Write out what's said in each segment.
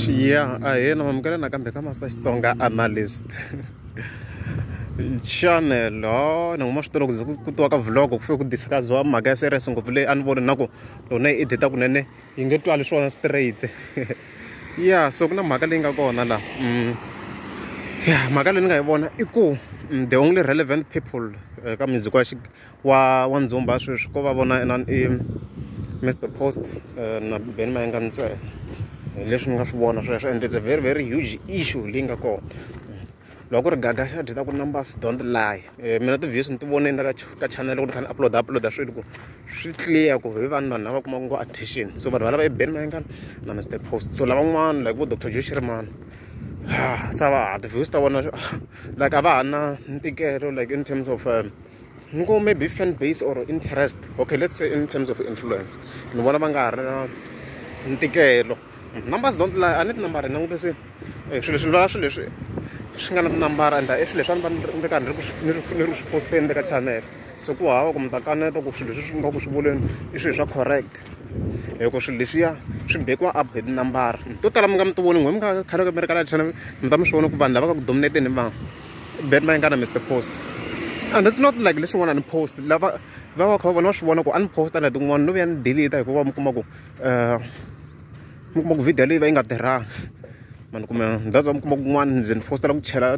ya a hi na mamukela nakambe ka master xitsonga analyst channel ha ni nguma swi tolo ku ze ku tiwa ka vlog ku fike ku discussiwa mhaka ya serious ngopfu leyi a ni voni na ku lona yi edita kunene yi nge twali swona straight ya so ku na mhaka leyi nga kona laha mm. ya mhaka leyi ni nga yi vona i ku mm, the only relevant people eh, ka music wa wa wa ndzumba sweswi ko va vona inana i Mister Post na Benny Mayengani ntsena hi leswi ni nga swi vona sweswo and it's a very very huge issue leyi nga kona loko ku ri gaga xa dyi ta ku numbers don't lie mina ti-views ni ti vonile ka ka channel loko ni kha ni upload upload swilo ku swi clear ku hi vanhu vanhu lava kuma ku ngo attention so vanhu valava i Benny Mayengani na Mister Post so lavan'wana like vo Doctor Joe Shirimani ha sa va ha ti-views ta vona like a va ha na ntikelo like in terms of. ni ku maybe fan base or interest okay let's say in terms of influence ni vona va nga ha ri na ntikelo numbers don't lie a ni tinambara hi langutise eh, swilo leswi ni vona swilo leswi swi nga na tinambara and i swilo leswi a ni va ni ri karhi ni ri ku swi posteni le ka channel se ku hava ku mi ta kaneta ku swilo leswi swi nga ku swi vuleni i swilo swa correct hikuva swilo leswiya swi bekiwa up hi tinambara to tala mi nga mi ti voni n'we mi nga khale mi ri ka la channel mi ta mi swi vona ku vanhu lava nga ku dominateni hi vanhu band va engana mr post and that's not like leswin'wana ni post lava va va kha vona va swi vona ku a ni posta na tin'wana no vuya ni delete hikuva mi kuma ku um mi kuma ku video leyi va yi nga tirhangi mani kumbe that's why mi kuma kun'wana ndzi ni fostela ku chela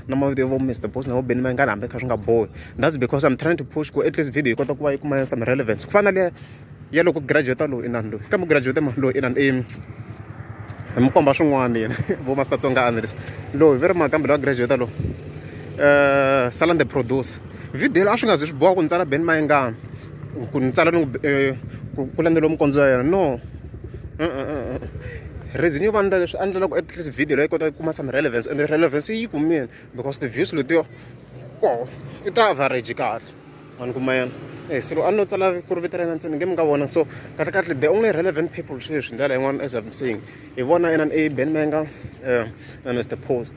na mavito ya vo mr boss na vo beni mayingani hambi kha swi nga bohi that's because i'm trying to push ku at least video yi kota ku va yi kuma some relevance ku fana na leya ya loko graduate loyi inani loyi kambe graduate mani loyi inani i hi mi komba swin'wana yena vo master tsonga analyst loyi ve ri mani kambe loyi a graduate loyi um eh, salande producer video leyi a swi nga zi swi boha ku ni tsala ben mayengana ku ni tsala ni eh, ku landzeliwa mukondzo ya yena no reason yo va ndla leswi a ndlela ku at least video leyi kota ku kuma some relevance and relevance yi kumile because the views letiyo ko i ta average kahle a ni kuma yena eh silo a no tsala ku ri vito ra yena ntsena nge mi nga vona so kahle kahle the only relevant people sweswi ndlela yin'wana as i'm saying hi vona yena a ben menga um na mr post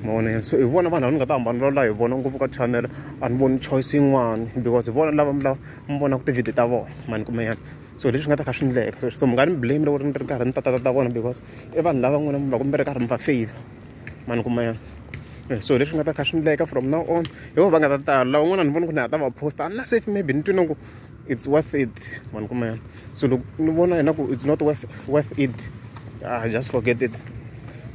ma vona yena so hi vona vanhu lava ni nga ta hambana lola hi vona ngopfu ka channel a ni voni choice yin'wana because hi vona lava lava mi vonaka tivhidiyo ta vona ma ni kuma yena so leswi nga ta kha swi ndleka so mi nga ni blame loko ni ri karhi ni tatata ta vona because i vanhu lava n'wina mi va ku mi ri karhi mi va favor mani kuma ya eh, so leswi nga ta kha swi endleka from now on hi vo va nga ta tala lawa un'wana ni vona ku ni ha ta va posta a na safe maybe ni twi na ku it's worth it mani kuma ya so loko ni vona yena ku it's not worth, worth it ah, just forget it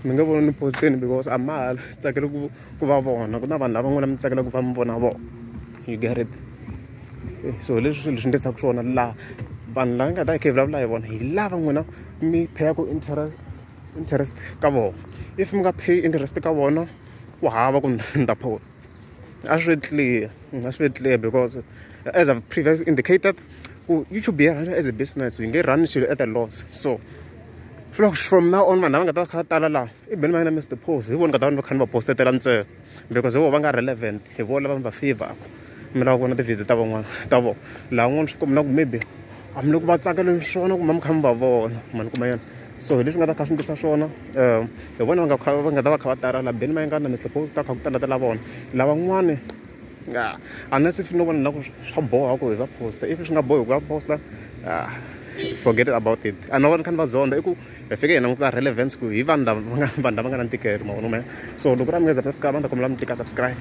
mi nga vona ni posteni because a ma ha tsakele ku ku va vona ku na vanhu lava n'wana mi tsakela ku va mi vona vona you get it eh, so leswi swilo swi ndlisaka swona laha vanhu lava nga ta khe hi vulavula hi vona hi lava n'wina mi pheyaka interact interest ka vona if mi nga pay interest ka vona ku hava ku ni ta post a swi clear a swi clear because as I've previously indicated ku YouTube yi run as a business yi nge run xilo at a loss so swi lava ku from now on vanhu lava nga ta va kha va tala laha i beni va yena Mister Paul hi vona nga ta va ni va kha ni va post-etela ntsena. because vo va nga relevant hi vo lava mi va favoraku mi lava ku vona tivhidiyo ta van'wana ta vona laha n'wana swi kombela ku maybe a mi le ku va tsakeleni swona kumbe mi kha mi va vona ma ni kuma yona so hi leswi nga ta kha swi ndlisa swona um hi vona va nga kha va nga ta va kha va tala laha beni mayingani na mr post ta kha ku tala tala vona lavan'wani a unless if no vona na ku swa boha ku hi va posta if swi nga bohi ku va posta ah, forget about it a no vona kha ni va zonda i ku hi fike hi languta relevance ku hi vanhu lava va nga vanhu lava nga na ntikelo mavona me so loko ra munghezi a mi subscribe a ni ta kombela mi tika subscribe